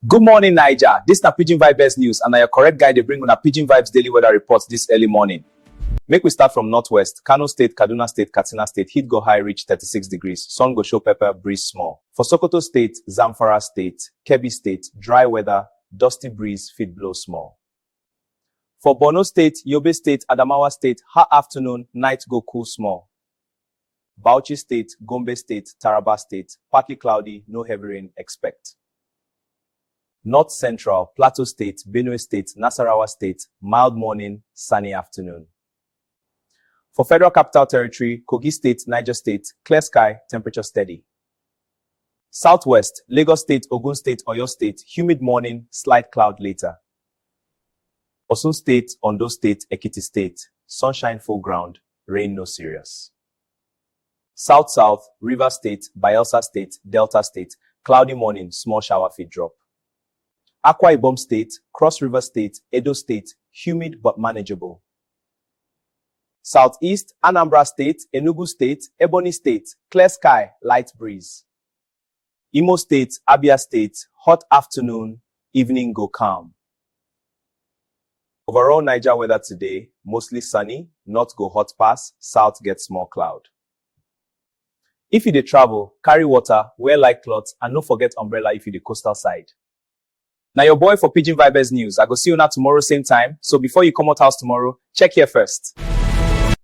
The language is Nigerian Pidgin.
Good morning, Naija. This na Pidgin Vibes News and na your correct guy dey bring una Pidgin Vibes daily weather report this early morning. Make we start from northwest. Kano State, Kaduna State, Katsina State, heat go high reach 36 degrees. Sun go show pepper, breeze small. For Sokoto State, Zamfara State, Kebbi State, dry weather, dusty breeze fit blow small. For Borno state, Yobe state, Adamawa state, ha afternoon, night go cool small. Bauchi state, Gombe state, Taraba state, partly cloudy, no heavy rain expect. North Central, Plateau state, Benue state, Nasarawa state, mild morning, sunny afternoon. For Federal Capital Territory, Kogi State, Niger State, clear sky, temperature steady. Southwest, Lagos State, Ogun State, Oyo State, humid morning, slight cloud later. Osun State, Ondo State, Ekiti State, sunshine full ground, rain no serious. South South, River State, Bayelsa State, Delta State, cloudy morning, small shower fit drop. Akwa Ibom State, Cross River State, Edo State, humid but manageable. Southeast, Anambra State, Enugu State, Ebonyi State, clear sky, light breeze. Imo State, Abia State, hot afternoon, evening go calm. Overall Niger weather today, mostly sunny, north go hot pass, south get small cloud. If you dey travel, carry water, wear light cloth and no forget umbrella if you dey coastal side. Na your boy for Pidgin Vibez News, I go see una tomorrow same time, so before you comot house tomorrow, check here first.